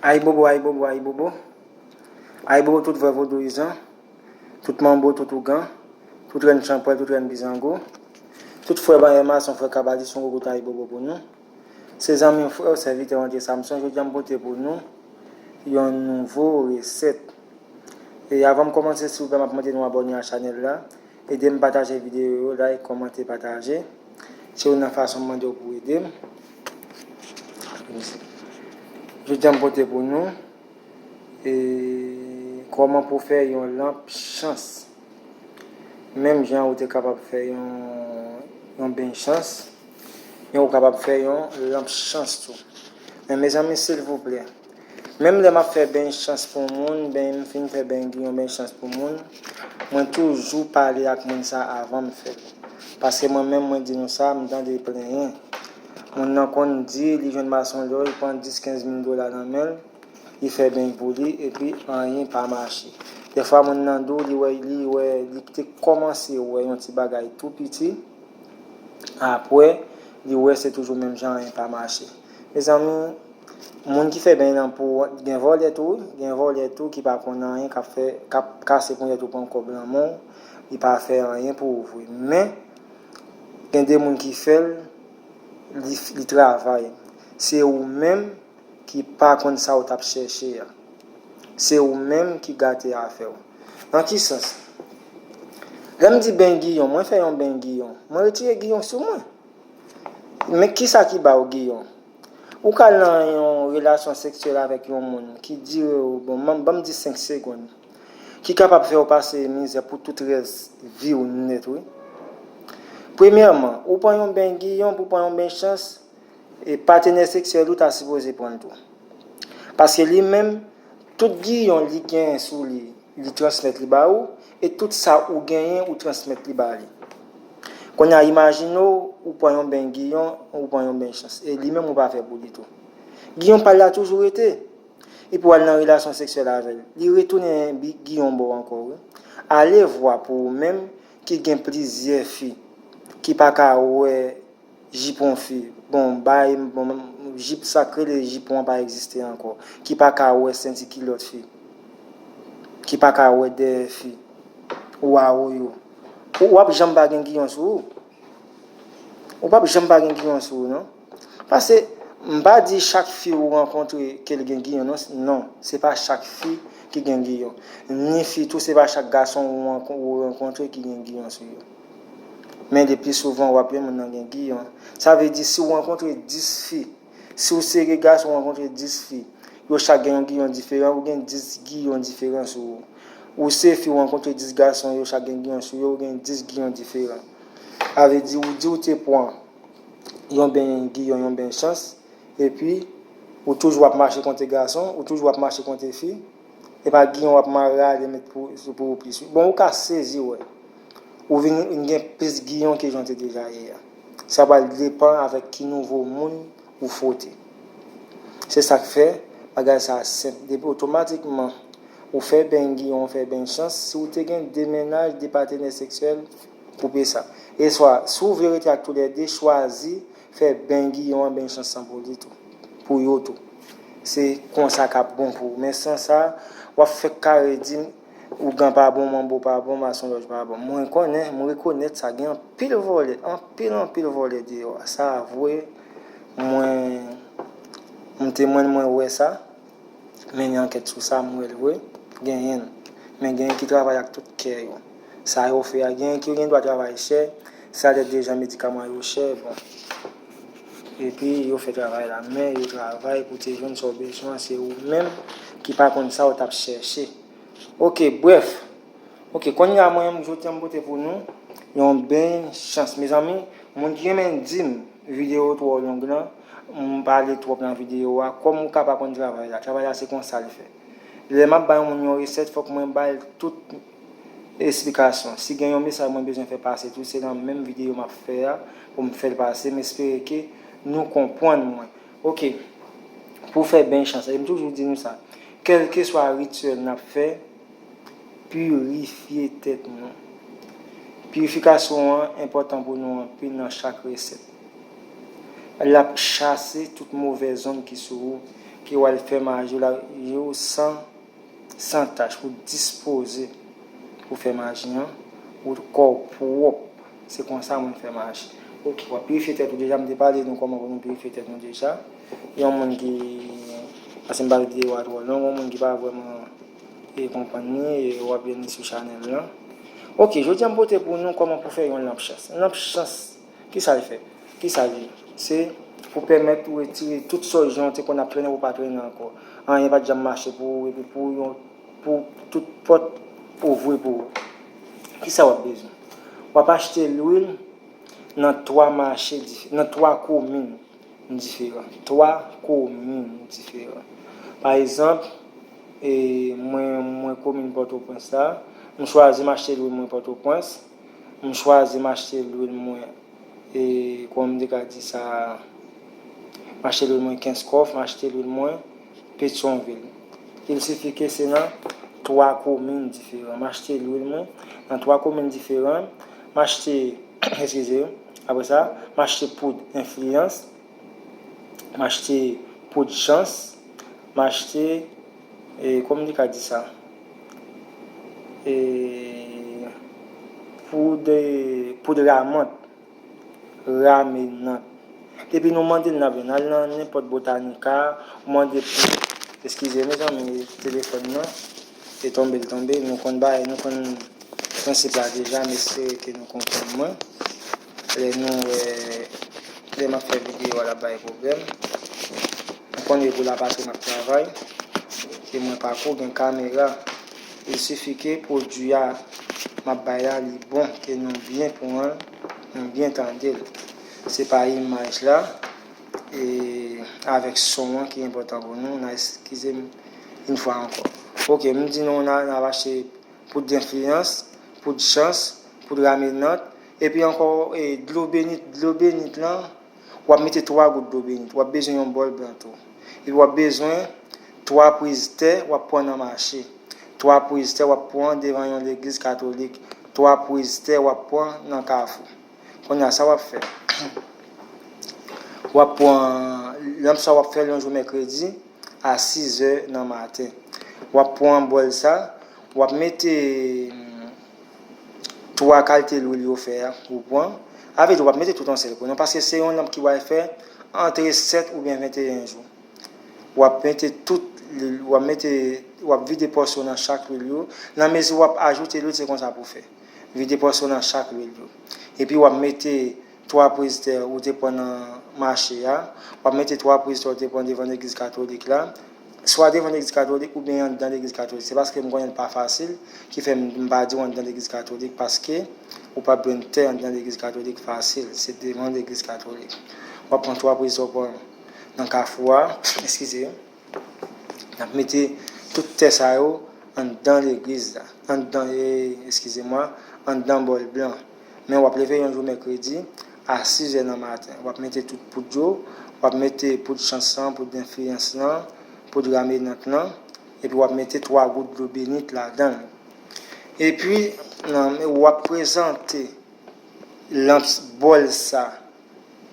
Ayibobo ayibobo ayibobo Ayibobo tout vrè vodouyizan Tout manbo tout ougan Tout rèn chanpwèl tout rèn bizango Tout frè ban ema son frè kabalis yon gwo kout ayibobo pou nou Se zanmi w frè w sèvitè w André Samson jodi a m pote pou nou yon nouvo resèt e avan m kòmanse silvouplè m ap mande nou abòne a chanèl la. Edem pataje video yo like komante pataje si ou nan fason m mandew pou edem Jodi an m pote pou nou Koman pou fè yon lanp chans Menm jan ou te kapab fè yon beny chans men ou kapab fè yon lanp chans tou Men mezanmi silvouplè Menm lè map fè beny chans pou moun beny m fin fè beny griyon beny chans pou moun mwen toujou pale ak moun sa avan m fèl paske mwen menm mwen di nou sa m tande plenyen moun nan konn di li jwenn mason lè l pran 10 15 mil dola nan men l li fè beny pou li epi anyen pa mache dèfwa moun nan di w li wè li wè li te kòmanse wè yon ti bagay tou piti apwè li wè se toujou menm jan anyen pa mache mezanmi. Moun ki fè beny nan pou wont gen vòlè tou wi gen vòlè tou ki pa konn anyen kap fè kap kase ponyèt ou pran kòb lanmòw li pa fè anyen pou ou vre men gen de moun ki fèl li li travay se ou menm ki pa konn sa ou tap chèche a se ou menm ki gate afèw nan ki sans lèm di beny giyon mwen fè yon beny giyon mwen retire giyon sou mwen men kisa ki baw giyon. Ou ka nan yon relasyon seksyèl avèk yon moun ki dire w, bon ban m di 5 segonn, ki kapab fè w pase mizè pou tout rès vi w nèt wi. Premyèman, ou pran yon ben giyon pou pran yon ben chans, patenè seksyèl ou ta sipoze pran l tou. Paske li menm, Tout giyon li genyen sou li, li transmèt li ba ou, e tout sa ou genyen ou transmèt li ba li. Kounye a imajine w, ou pran yon ben giyon, ou pran yon ben chans, e li menm ou pa fè pou li tou. Giyon pa l la toujou rete. Epi w al nan relasyon seksyèl avè l. Li retounen giyon ba w ankò wi. Ale vwa pou ou menm ki gen plizyè fi, ki pa ka wè. Jipon fi, bon bay, bon jip sak rele jipon an pa egziste ankò, ki pa ka wè senti kilòt fi, ki pa ka wè dèyè fi, wawo yo. Ou wap janm pa gen giyon sou ou. Ou pap janm pa gen giyon sou ou non. Pase, m pa di chak fi ou rankontre ke l gen giyon non, non, se pa chak fi ki gen giyon. Ni fi tou se pa chak gason ou rankontre ki gen giyon sou yo. Men le pi souvan wap yon moun nan gen giyon. Sa vle di si w rankontre 10 fi, si w se ge gason w rankontre 10 fi, yo chak gen yon giyon diferan, ou gen 10 giyon diferan sou ou. Ou se fi w rankontre 10 gason yo chak gen giyon sou yo, ou gen 10 giyon diferan. Sa vle di ou di ou te pwan yon ben giyon, yon ben chans, epi ou toujou ap mache konte gason, ou toujou ap mache konte fi. Epa giyon wap mare a li met sou pou ou plis wi. Bon ou ka sezi wè ou vin gen plis giyon ke jan ou te deja ye a. Sa pral depan avèk ki nouvo moun ou fwote. Se sak fè bagay sa senp depi otomatikman ou fè beny giyon ou fè beny chans si ou te gen 2 mennaj 2 patenè seksyèl koupe sa. Eswa si ou vle rete ak tou lè 2 chwazi Fè ben giyon an ben chans lan pou li tou. Pou yo tou. Se konsa kap bon pou ou. Men san sa, wap fèk kare dim ougan pa bon, manbo pa bon, masonlòj pa bon. Mwen konnen, mwen rekonèt sa gen anpil vòlè, anpil anpil vòlè deyò a. Sa vre, mwen, mtemwen mwen wè sa. Mennen ankèt sou sa m wè l vre, genyen l. Men genyen ki travay ak tout kè yo. Sa yo fè a, genyen ki gen dwa travay chè, sa lè dejan medikaman yo chè, bon. Epi yo fè travay la, men yo travay pou te jwenn sa w bezwen, se ou menm ki pa konn sa w t ap chèche. Ok, brèf. Ok, kounye a mwen menm jodi a m pote pou nou yon beny chans. Mezanmi, moun ki renmen di m videyo twò long lan, M pale twòp nan videyo a. Kòm ou ka pa konn travay la. Travay la se konsa li fè. Lè m ap bay yon moun yon resèt fòk mwen ba l tout esplikasyon. Si gen yon mesaj mwen bezwen fè pase tou se nan menm videyo m ap fè a pou m fè l pase. M espere ke nou konpwann mwen. Ok. Pou fè ben chans la. E m toujou di nou sa. Kèlkeswa rityèl n ap fè, pirifye tèt nou. Pirifikasyon an enpòtan pou nou anpil nan chak resèt. Lap chase tout move zong ki sou ou, ke ou al fè maji ou la je ou san san tach ou dispoze pou fè maji an, ou kò ou pwòp, se konsa moun fè maji. Ok wap pirifye tèt ou deja m te pale nou kòman pou nou pirifye tèt nou deja, yon moun ki paske m pa vle videyo a twò long, yon moun ki pa vrèman e konprann ni e wap jwenn li sou chanèl lan. Ok jodi a m pote pou nou kòman pou fè yon lanp chans, lanp chans. Ki sa l fè? Ki sa l ye? Se pou pèmèt ou etire tout sòl jan w te konn ap trennen pou w pa trennen ankò. Anyen pa t janm mache pou ou epi pou yon pou tout pòt ouvri pou ou. Ki sa w ap bezwen? W ap achte lwil nan 3 mache dife nan 3 komin diferan. 3 komin diferan. Pa ezanp, e mwen mwen komin Pòtoprens la, m chwazi m achte lwil mwen Pòtoprens. M chwazi m achte lwil mwen e kòman m te ka di sa a m achte lwil mwen kenskòf m achte lwil mwen petyonvil il sifi ke se nan 3 komin diferan m achte lwil mwen nan 3 komin diferan m achte eskize apre sa m achte poud enfliyans M achte poud chans. M achte e kòm li ka di sa. E poud e poud ramant. Ramenant. Depi nou mande l nan vin. Al nan nenpòt botanika. Ou mande pou. Eskize mezanmi telefòn nan. E tonbe l tonbe. Nou konn bay nou konn prensip la deja. M espere ke nou konprann mwen. Lè nou wè lè map fè video a lap bay problem m konnen pou la paske map travay e mwen pako gen kamera il suffit ke produit a map bay la li bon ke nou byen pranl nou byen tandel se pa imaj la e avek son an ki enpotan pou nou na eskizem yn fwa anko ok m di nou nap achte poud enfliyans poud chans poud ramenant Epi ankò dlo benit, dlo benit lan, w ap mete 3 gout dlo benit. W ap bezwen yon bòl blan tou. Epi w ap bezwen 3 priz tè w ap pran nan mache. 3 priz tè w ap pran devan yon legliz katolik. 3 priz tè w ap pran nan kafou. Kounye a, sa w ap fè? W ap pran lanp sa w ap fè l yon jou mèkredi a sizè nan maten. W ap pran bòl sa, w ap mete 3 kalte lwil yo fè a ou pwan, a vle di wap mete tout an sèl kou non paske se yon lanp ki wal fè antre 7 oubyen 21 jou. Wap mete tout lwil, wap mete, wap vide pòsyon nan chak lwil yo, nan mezi wap ajoute lwil se konsa pou fè. Vide pòsyon nan chak lwil yo. Epi wap mete 3 priz tè ou te pwan nan mache a, wap mete 3 priz tè ou te pwan devan legliz katolik la, swa devan legliz katolik ou byen anndan legliz katolik se paske m konnenl pa fasil ki fè m pa diw anndan legliz katolik paske ou pap jwenn tè anndan legliz katolik fasil se devan legliz katolik wap pran 3 priz zòbòl nan kafou a eskize yap mete tout tè sa yo anndan legliz la anndan eskize mwa anndan bòl blan. Men wap leve yon jou mèkredi a 6 zè nan maten, wap mete tout poud yo, wap mete poud chans lan, poud enfliyans lan, poud ramenant lan, epi wap mete 3 gout dlo benit ladan l. Epi nan men ou wap prezante lamps bòl sa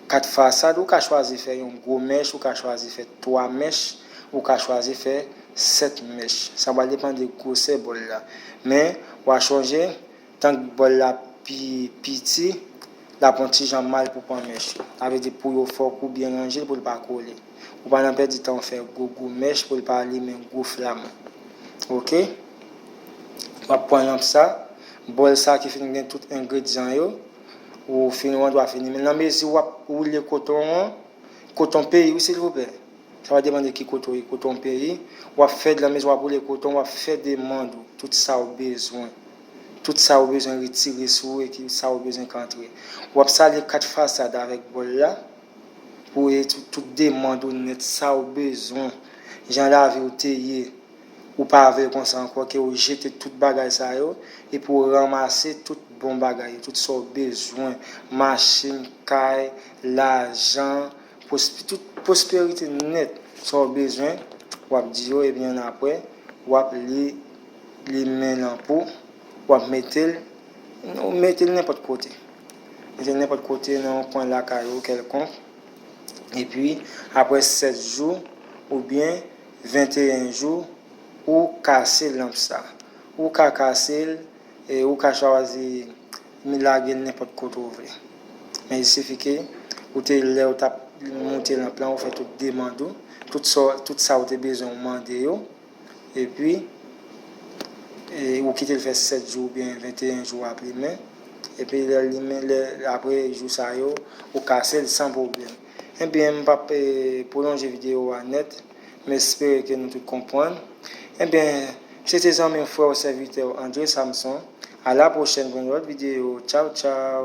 4 fasad, ou ka chwazi fè yon gwo mèch, ou ka chwazi fè 3 mèch, ou ka chwazi fè 7 mèch. Sa pral depan de gwosè bòl la. Men wa chonje. Tank bòl la pi piti, l ap on ti jan mal pou pran mèch yo. Sa vle di pou yo fòk ou byen ranje l pou l pa kole. Ou pa nan pèdi tan ou fè gwo gwo mèch pou l pa limen gwo flam. Ok. W ap pran lanp sa, bòl sa ki fin gen tout engredyan yo, ou fin ou andwa fini. Men nan mezi w ap woule koton an, koton peyi wi silvouplè, sa pa depan de ki kote w ye, koton peyi, w ap fè, nan mezi w ap woule koton, w ap fè demand ou, tout sa ou bezwen. Tout sa ou bezwen retire sou ou e ki sa ou bezwen k antre. Ou ap salye kat fasad avèk bòl la pou ou etwi tout demand ou nèt sa ou bezwen jan lavi ou te ye ou pa vle l konsa ankò ke ou jete tout bagay sa yo epi ou ranmase tout bon bagay yo tout sa ou bezwen machin kay lajan Tout pwosperite nèt sa w bezwen w ap di yo epi annapre w ap li li men nan po w ap mete l ou mete l nenpòt kote mete l nenpòt kote nan yon kwen lakay ou kèlkonk epi apre 7 jou oubyen 21 jou ou kase lanp sa ou ka kase l ou ka chwazi Min lagel nenpòt kote ou vle. Men il sifi ke ou te lèw tap moute lanp lan ou fè tout demand ou, tout sa tout sa ou te bezwen ou mande yo epi ou kitel fè 7 jou oubyen 21 jou ap limen epi lèl limen lè apre jou sa yo ou kasel san pwoblèm. Ebyen m pap pwolonje video a nèt. M espere ke nou tout konpwann. Enben, se te zanmi w, frè w, sèvitè w, André Samson. A la pwochèn pou yon lòt videyo. Tchaw tchaw!